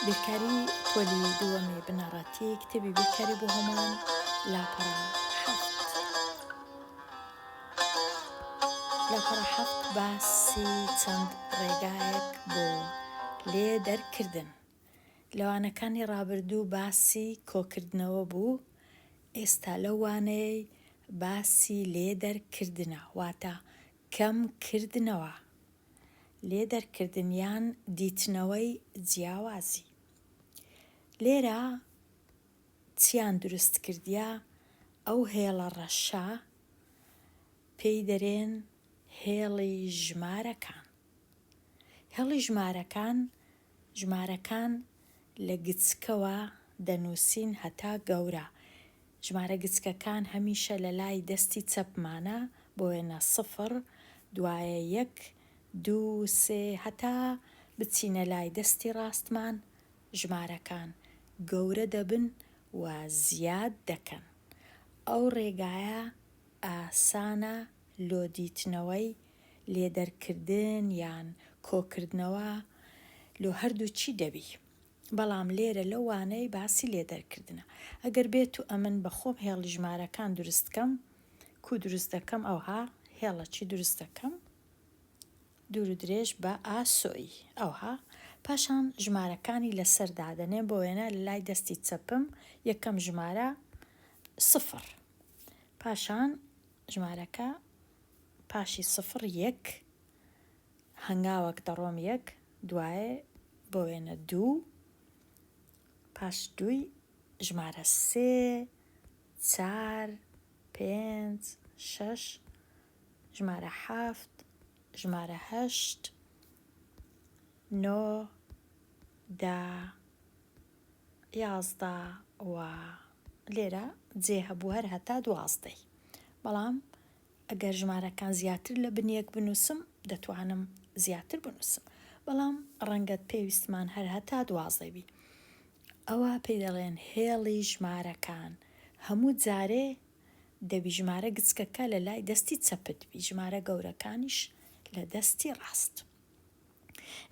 بیرکاری پۆلی دووەمی بنەڕەتی کتێبی بیرکاری بۆ هەمووان لاپەڕە حەفت لاپەڕە حەفت باسی چەند ڕێگایەک بۆ لێ دەرکردن لەوانەکانی ڕابردوو باسی کۆکردنەوە بوو ئێستا لەو وانەیەی باسی لێ دەرکردنە واتە کەم کردنەوە لێ دەرکردن یان دیتنەوەی جیاوازی لێرە چیان دروست کردیە ئەو هێڵە ڕەشە پێی دەرێن هێڵی ژمارەکان هێڵی ژمارەکان ژمارەکان لە گچکەوە دەنووسین هەتا گەورە. ژمارە گچکەکان هەمیشە لە لای دەستی چەپمانە، بۆ وێنە سفر، دوایە یەک، دوو، سێ، هەتا بچینە لای دەستی ڕاستمان، ژمارەکان گەورە دەبن و زیاد دەکەن. ئەو ڕێگایە ئاسانە لۆ دیتنەوەی لێ دەرکردن یان کۆکردنەوە لۆ هەردوو چی دەبی بەڵام لێرە لەو وانەی باسی لێ دەرکردنە ئەگەر بێتو ئەمن بە خۆم هێڵی ژمارەکان دروست کەم کو دروست دەکەم ئەوها هێڵە چی دروست دەکەم دورو درێژ بە ئا سۆی ئەوها پاشان ژمارەکانی لەسەر دادەنێم بۆ وێنە لای دەستی چەپم یەکەم ژمارە سفر پاشان ژمارەکە پاشی سفر یەک هەنگاوەک دەڕۆم یەک دوایێ بۆ وێنە دوو پاش دووی ژمارە سێ چار پێنج شەش ژمارە حەفت ژمارە هەشت نۆ دە یازدە و لێرە جێ هەبوو هەر هەتا دوازدەی بەڵام ئەگەر ژمارەکان زیاتر لە بنیەک بنووسم دەتوانم زیاتر بنووسم بەڵام ڕەنگەت پێویستمان هەر هەتا دوازدەی بی ئەوە پێی دەڵێن هێڵی ژمارەکان هەموو جارێ دەبی ژمارە گچکەکە لە لای دەستی چەپت بی ژمارە گەورەکانیش لە دەستی ڕاست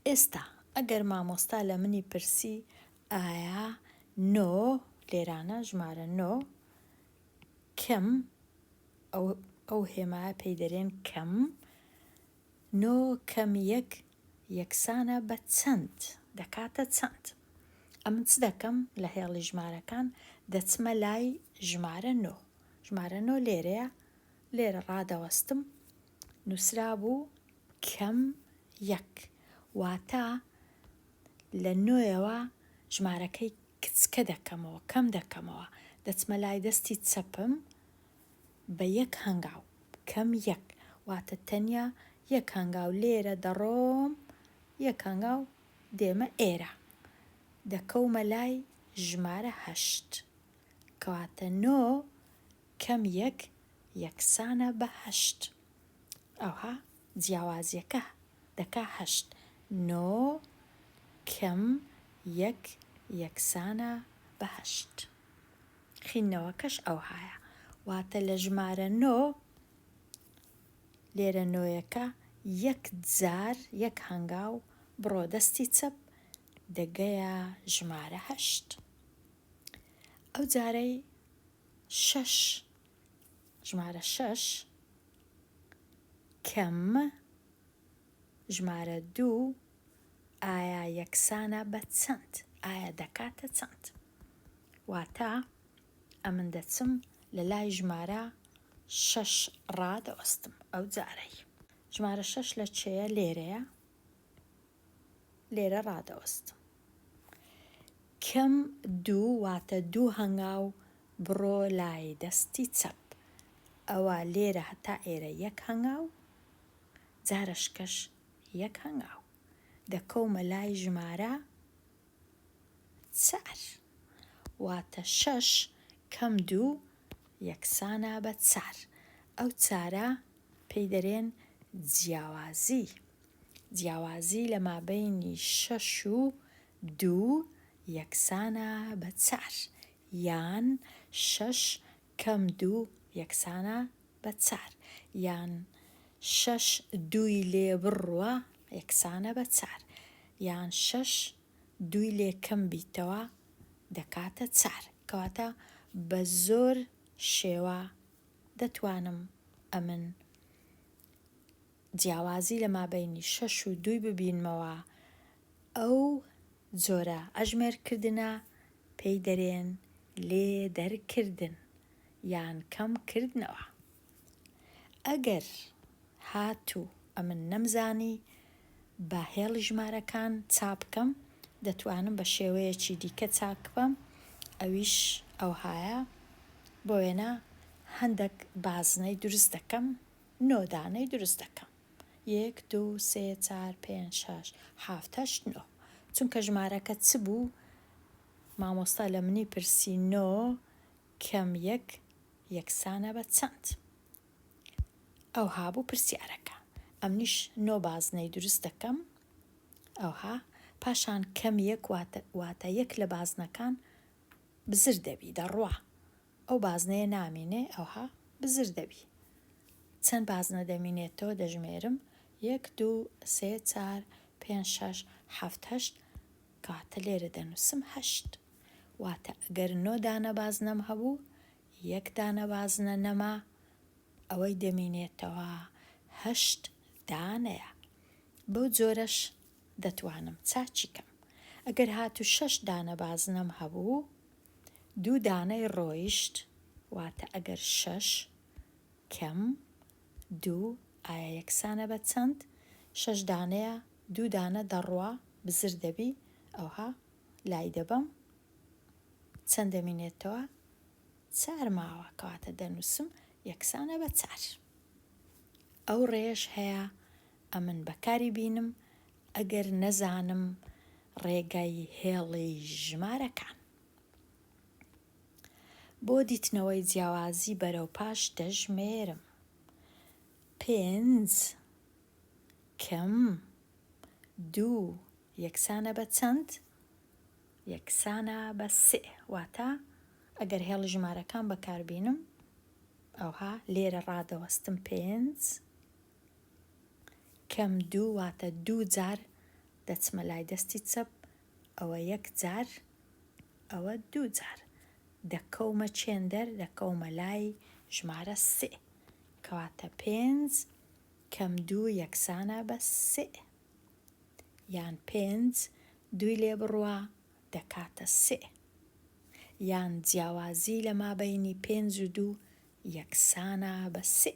ئێستا ئەگەر مامۆستا لە منی پرسی ئایا نۆ، لێرانە ژمارە نۆ، کەم، ئەو هێمایە پێی دەرێن کەم، نۆ کەم یەک یەکسانە بە چەند؟ دەکاتە چەند؟ ئەمن چ دەکەم لە هێڵی ژمارەکان دەچمە لای ژمارە نۆ، ژمارە نۆ لێرەیە، لێرە ڕادەوەستم نووسرا بوو، کەم یەک واتە لە نۆیەوە ژمارەکەی کچکە دەکەمەوە، کەم دەکەمەوە، دەچمە لای دەستی چەپم بە یەک هەنگاو، کەم یەک واتە تەنیا یەک هەنگاو لێرە دەڕۆم، یەک هەنگاو دێمە ئێرە، دەکەومە لای ژمارە هەشت، کەواتە نۆ کەم یەک یەکسانە بە هەشت. ئەوا جیاوازیەکە دەکا هەشت. نۆ کم یەک یەکسانە بە هەشت. خیندنەوەکەش ئەوهایە. واتە لە ژمارە نۆ، لێرە نۆیەکە، یەک جار، یەک هەنگاو بڕۆ دەستی چەپ، دەگەیە ژمارە هەشت. ئەو جارەی شەش. ژمارە شەش کەم ژمارە دوو ئایا یەکسانە بە چەند ئایا دەکاتە چەند واتە ئەمن دەچم لە لای ژمارە شەش ڕادەوەستم ئەو جارەی ژمارە شەش لە چێە لێرەیە لێرە ڕادەوەستم کم دوو واتە دوو هەنگاو بڕۆ لای دەستی چەپ ئەوە لێرە هەتا ئێرە یەک هەنگاو جارەشکەش یەک هەنگاو دەکەومە لای ژمارە چار واتە شەش کەم دوو یەکسانە بە چار ئەو چارە پێی دەرێن جیاوازی. جیاوازی لە مابەینی شەش و دوو یەکسانە بە چار یان شەش کەم دوو یەکسانە بە چار یان شەش دووی لێ بڕوا یەکسانە بە چار یان شەش دووی لێ کەم بیتەوە دەکاتە چار کەواتە بە زۆر شێوە دەتوانم ئەمن جیاوازی لە مابەینی شەش و دووی ببینمەوە، ئەو جۆرە ئەژمێرکردنە پێی دەرێن لێ دەرکردن یان کەم کردنەوە. ئەگەر هات و ئەمن نەمزانی بە هێڵی ژمارەکان چابکەم، دەتوانم بە شێوەیەکی دیکە چاکبم، ئەویش ئەوهایە، بۆ وێنە هەندەک بازنەی دروست دەکەم، نۆ دانەی دروست دەکەم یەک دوو سێ چار پێنج شەش حەفت هەشت نۆ چونکە ژمارەکە چ بوو مامۆستا لە منی پرسی نۆ کەم یەک یەکسانە بە چەند ئەو هابوو پرسیارەکە ئەمنیش نۆ بازنەی دروست دەکەم ئەوها پاشان کەم یەک واتە یەک لە بازنەکان بزر دەبی دەڕوا ئەو بازنەیە نامینێ ئەوها بزر دەبی. چەند بازنە دەمینێتەوە دەژمێرم یەک دوو سێ چار پێنج شەش حەفت هەشت کەواتە لێرە دەنووسم هەشت واتە گەر نۆ دانە بازنەم هەبوو یەک دانە بازنە نەما ئەوەی دەمینێتەوە هەشت دانەیە بەو جۆرەش دەتوانم چاچی کەم ئەگەر هاتوو شەش دانە بازنەم هەبوو دوو دانەی ڕۆیشت واتە ئەگەر شەش کەم دوو ئایا یەکسانە بە چەند؟ شەش دانەیە دوو دانە دەڕوا بزر دەبی ئەوها لای دەبەم چەند دەمینێتەوە چار ماوە کەواتە دەنووسم یەکسانە بە چار ئەو ڕێش هەیە ئەمن بەکاری بینم ئەگەر نەزانم ڕێگای هێڵی ژمارەکان. بۆ دیتنەوەی جیاوازی بەرەو پاش دەژمێرم. پێنج کم دوو یەکسانە بە چەند؟ یەکسانە بە سێ واتە ئەگەر هێڵی ژمارەکان بەکاربینم ئەوها لێرە ڕادەوەستم پێنج کەم دوو واتە دوو جار دەچمە لای دەستی چەپ ئەوە یەک جار ئەوە دوو جار دەکەومە چێندەر دەکەومە لای ژمارە سێ کەواتە پێنج کەم دوو یەکسانە بە سێ یان پێنج دووی لێ بڕوا دەکاتە سێ یان جیاوازی لە مابینی پێنج و دوو یەکسانە بە سێ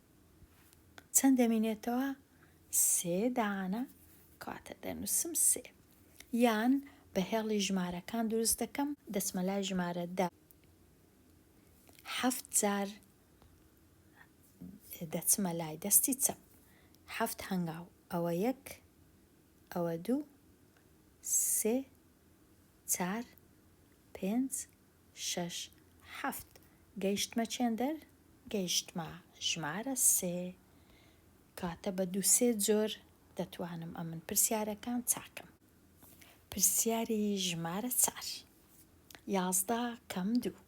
چەند دەمینێتەوە سێ دانە کاتە دەنووسم سێ یان بە هێڵی ژمارەکان دروست دەکەم دەچمە لای ژمارە دە حەفت جار دەچمە لای دەستی چەپ حەفت هەنگاو ئەوە یەک ئەوە دوو سێ چار پێنج شەش، حەفت، گەیشتمە چێندەر، گەیشتمە ژمارە سێ. کاتە بە دوو سێ جۆر دەتوانم ئەمن پرسیارەکان چاکم. پرسیاری ژمارە چار. یازدە کەم دوو.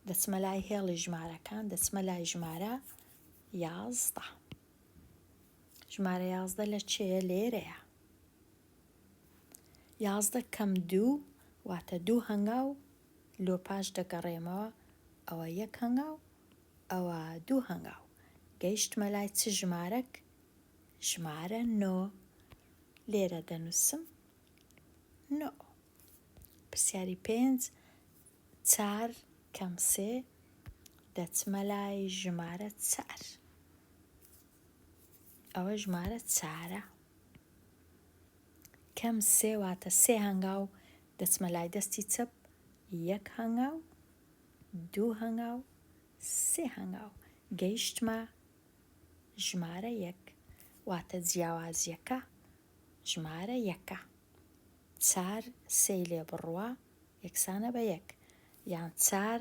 دەچمە لای هێڵی ژمارەکان دەچمە لای ژمارە یازدە. ژمارە یازدە لە چێە لێرەیە. یازدە کەم دوو واتە دوو هەنگاو لۆ پاش دەگەڕێمەوە ئەوە یەک هەنگاو ئەوە دوو هەنگاو گەیشتمە لای چ ژمارەک ژمارە نۆ لێرە دەنووسم نۆ پرسیاری پێنج چار کەم سێ دەچمە لای ژمارە چار ئەوە ژمارە چارە کەم سێ واتە سێ هەنگاو دەچمە لای دەستی چەپ یەک هەنگاو دوو هەنگاو سێ هەنگاو گەیشتمە ژمارە یەک واتە جیاوازیەکە ژمارە یەکە چار سێ لێ بڕوە یەکسانە بە یەک یان چار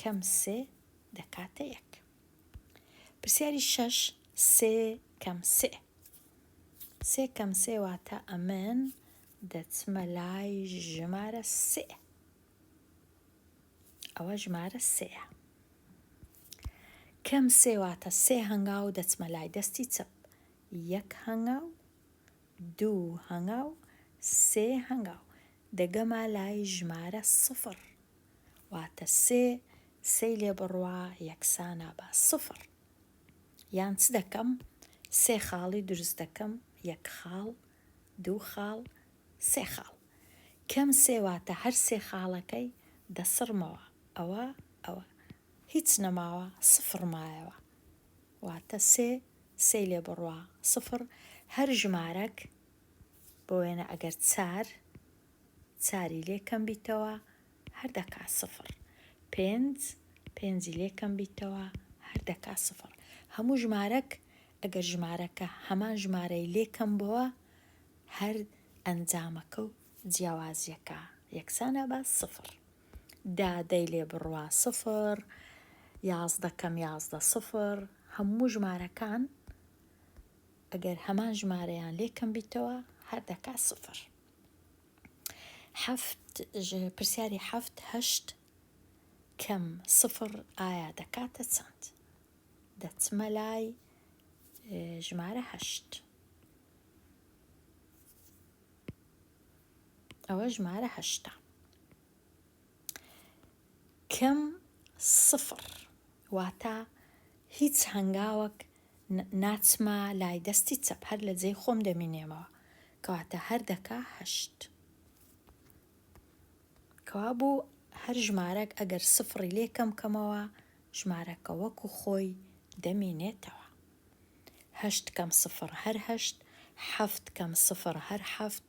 کەم سێ دەکاتە یەک پرسیاری شەش سێ کەم سێ سێ کەم سێ واتە ئەمن دەچمە لای ژمارە سێ ئەوە ژمارە سێە کەم سێ واتە سێ هەنگا و دەچمە لای دەستی چەپ یەک هەنگا و دوو هەنگا و سێ هەنگا و دەگەما لای ژمارە سفر واتە سێ سێی لێ بڕوا یەکسانە بە سفر یان چ دەکەم سێ خاڵی دروست دەکەم یەک خاڵ دوو خاڵ سێ خاڵ کەم سێ واتە هەر سێ خاڵەکەی دەسڕمەوە ئەوە ئەوە هیچ نەماوە سفر مایەوە واتە سێ سێ لێ بڕوا سفر هەر ژمارەک بۆ وێنە ئەگەر چار چاری لێ کەم بیتەوە هەر دەکا سفر. پێنج پێنجی لێ کەم بیتەوە هەر دەکا سفر. هەموو ژمارەک ئەگەر ژمارەکە هەمان ژمارەی لێ کەم بۆوە هەر ئەنجامەکە و جیاوازیەکە یەکسانە بە سفر. دا دەی لێ بڕوا سفر، یازدە کەم یازدە سفر، هەموو ژمارەکان ئەگەر هەمان ژمارەیان لێ کەم بیتەوە هەر دەکا سفر. حەفت پرسیاری حەفت هەشت کەم سفڕ ئایا دەکاتە چەند دەچمە لای ژمارە هەشت ئەوە ژمارە هەشتا کم سفر واتا هیچ هەنگاوەک ناچمە لای دەستی چەپ هەر لە جێی خۆم دەمینێمەوە کەواتە هەر دەکا هەشت کەوا بوو هەر ژمارەک ئەگەر سفڕی لێ کەم کەمەوە ژمارەکە وەکو خۆی دەمینێتەوە هەشت کەم سفر هەر هەشت حەفت کەم سفر هەر حەفت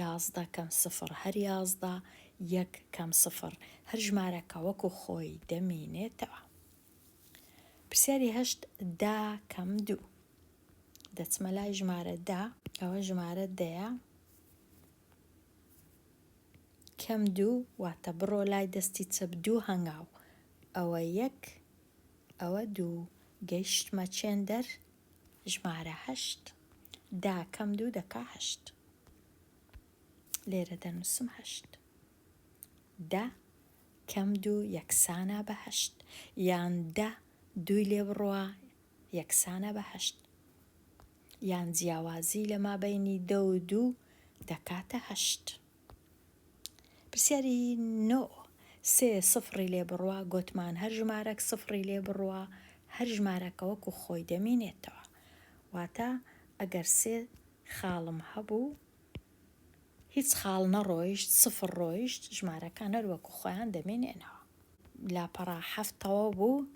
یازدە کەم سفر هەر یازدە یەک کەم سفر هەر ژمارەکە وەکو خۆی دەمینێتەوە پرسیاری هەشت دا کەم دوو دەچمە لای ژمارە دا ئەوە ژمارە دەیە کەم دوو واتە بڕۆ لای دەستی چەپ دوو هەنگاو ئەوە یەک ئەوە دوو گەیشتمە چێندەر ژمارە هەشت داکەم دوو دەکا هەشت لێرە دەنووسم هەشت دە کەم دوو یەکسانە بە هەشت یان دە دووی لێ بڕوا یەکسانە بە هەشت یان جیاوازی لە مابینی دە و دوو دەکاتە هەشت پرسیاری نۆ سێ سفڕی لێ بڕوا گۆتمان هەر ژمارەک سفڕی لێ بڕوا هەر ژمارەکە وەکو خۆی دەمینێتەوە واتە ئەگەر سێ خاڵم هەبوو هیچ خاڵ نەڕۆیشت سفر ڕۆیشت ژمارەکان هەر وەکو خۆیان دەمێنێنەوە لاپەڕا حەفتەوە بوو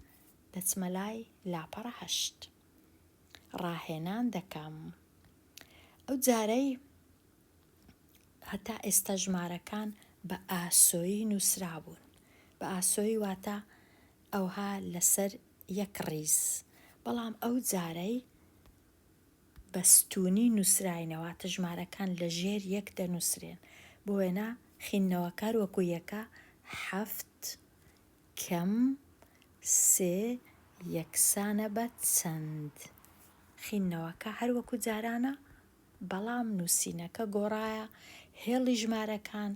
دەچمە لای لاپەڕە هەشت ڕاهێنان دەکەم ئەو جارەی هەتا ئێستا ژمارەکان بە ئاسۆیی نووسرابوون، بە ئاسۆیی واتە ئەوها لەسەر یەک ڕیز، بەڵام ئەو جارەی بە ستوونی نووسراینە، واتە ژمارەکان لە ژێر یەک دەنووسرێن. بۆ وێنە خیندنەوەکار وەکوو یەکە، حەفت، کەم، سێ، یەکسانە بە چەند. خیندنەوەکە هەر وەکوو جارانە، بەڵام نووسینەکە گۆڕایە هێڵی ژمارەکان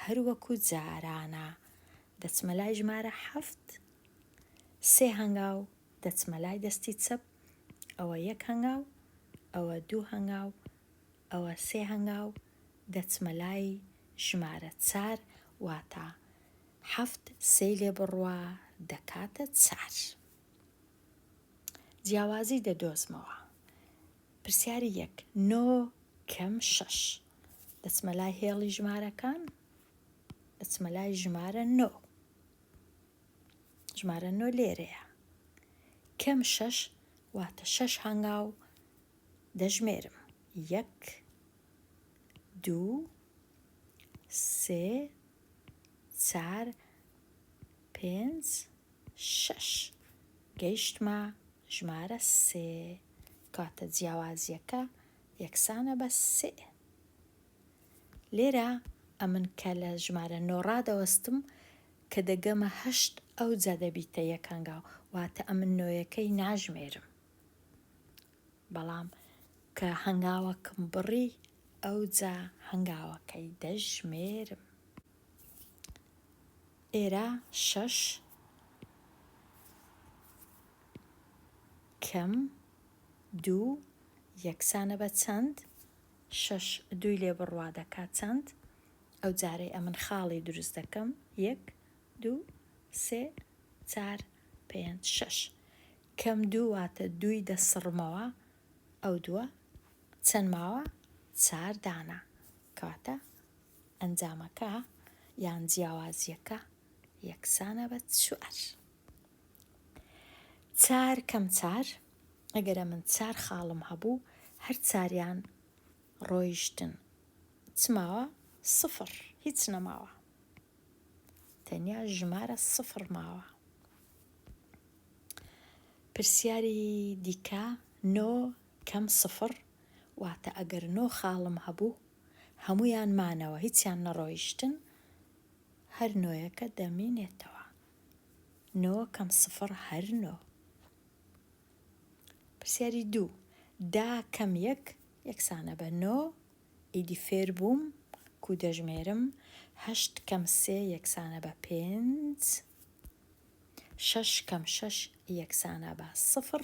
هەر وەکو جارانە دەچمە لای ژمارە حەفت سێ هەنگاو دەچمە لای دەستی چەپ ئەوە یەک هەنگاو ئەوە دوو هەنگاو ئەوە سێ هەنگاو دەچمە لای ژمارە چار واتا حەفت سێ لێ بڕوا دەکاتە چار جیاوازی دەدۆزمەوە پرسیاری یەک نۆ کەم شەش. دەچمە لای هێڵی ژمارەکان دەچمە لای ژمارە نۆ ژمارە نۆ لێرەیە کەم شەش واتە شەش هەنگاو دەژمێرم یەک دوو سێ چار پێنج، شەش. گەیشتمە ژمارە سێ. کاتە جیاوازیەکە یەکسانە بە سێ. لێرە ئەمن کە لە ژمارە نۆ ڕادەوەستم کە دەگەمە هەشت ئەو جا دەبیتە یەکەنگاو واتە ئەمن نۆیەکەی ناژمێرم بەڵام کە هەنگاوەکم بڕی ئەو جا هەنگاوەکەی دەژمێرم ئێرە شەش کەم دوو یەکسانە بە چەند؟ شەش دووی لێ بڕوا دەکات چەند؟ ئەو جارەی ئەمن خاڵی دروست دەکەم یەک دوو سێ چار پێنج شەش کەم دوو واتە دووی دەسڕمەوە ئەو دووە چەند ماوە چار دانە کەواتە ئەنجامەکە یان جیاوازییەکە یەکسانە بە چوار. چار کەم چار ئەگەرە من چار خاڵم هەبوو هەر چاریان ڕۆیشتن چماوە سفر هیچ نەماوە تەنیا ژمارە سفر ماوە پرسیاری دیکە نۆ کەم سفڕ واتە ئەگەر نۆ خاڵم هەبوو هەموویان مانەوە هیچیان نەڕۆیشتن هەر نۆیەکە دەمینێتەوە نۆ کەم سفڕ هەر نۆ پرسیاری دوو دا کەم یەک یەکسانە بە نۆ ئیدی فێر بووم کو دەژمێرم هەشت کەم سێ یەکسانە بە پێنج شەش کەم شەش یەکسانە بە سفڕ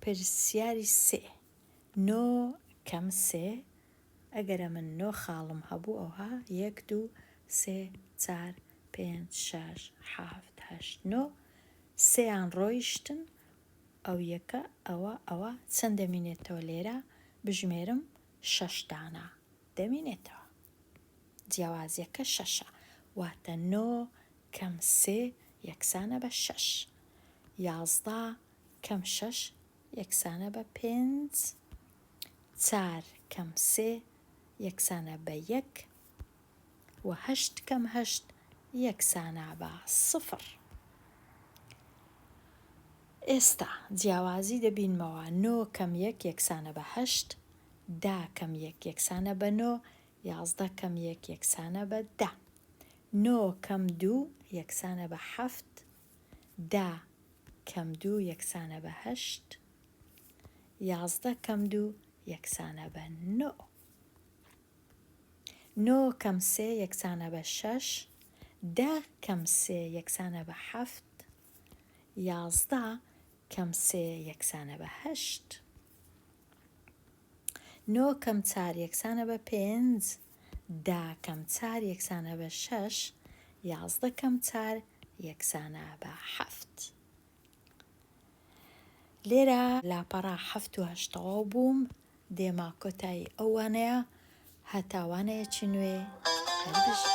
پرسیاری سێ نۆ کەم سێ ئەگەر ئەمن نۆ خاڵم هەبوو ئەوها یەک دوو سێ چار پێنج شەش حەفت هەشت نۆ سێیان ڕۆیشتن ئەو یەکە ئەوە ئەوە چەند دەمینێتەوە لێرە بژمێرم شەش دانە دەمینێتەوە جیاوازیەکە شەشە واتە نۆ کەم سێ یەکسانە بە شەش. یازدە کەم شەش یەکسانە بە پێنج. چار کەم سێ یەکسانە بە یەک. و هەشت کەم هەشت یەکسانە بە سفر. ئێستا جیاوازی دەبینمەوە، نۆ کەم یەک یەکسانە بە هەشت. دە کەم یەک یەکسانە بە نۆ. یازدە کەم یەک یەکسانە بە دە. نۆ کەم دوو یەکسانە بە حەفت. دە کەم دوو یەکسانە بە هەشت. یازدە کەم دوو یەکسانە بە نۆ. نۆ کەم سێ یەکسانە بە شەش. دە کەم سێ یەکسانە بە حەفت. یازدە کەم سێ یەکسانە بە هەشت. نۆ کەم چار یەکسانە بە پێنج. دە کەم چار یەکسانە بە شەش. یازدە کەم چار یەکسانە بە حەفت. لێرە لاپەڕە حەفت و هەشت تەواو بووم دێما کۆتایی ئەو وانەیە هەتا وانەیەکی نوێ هەربژی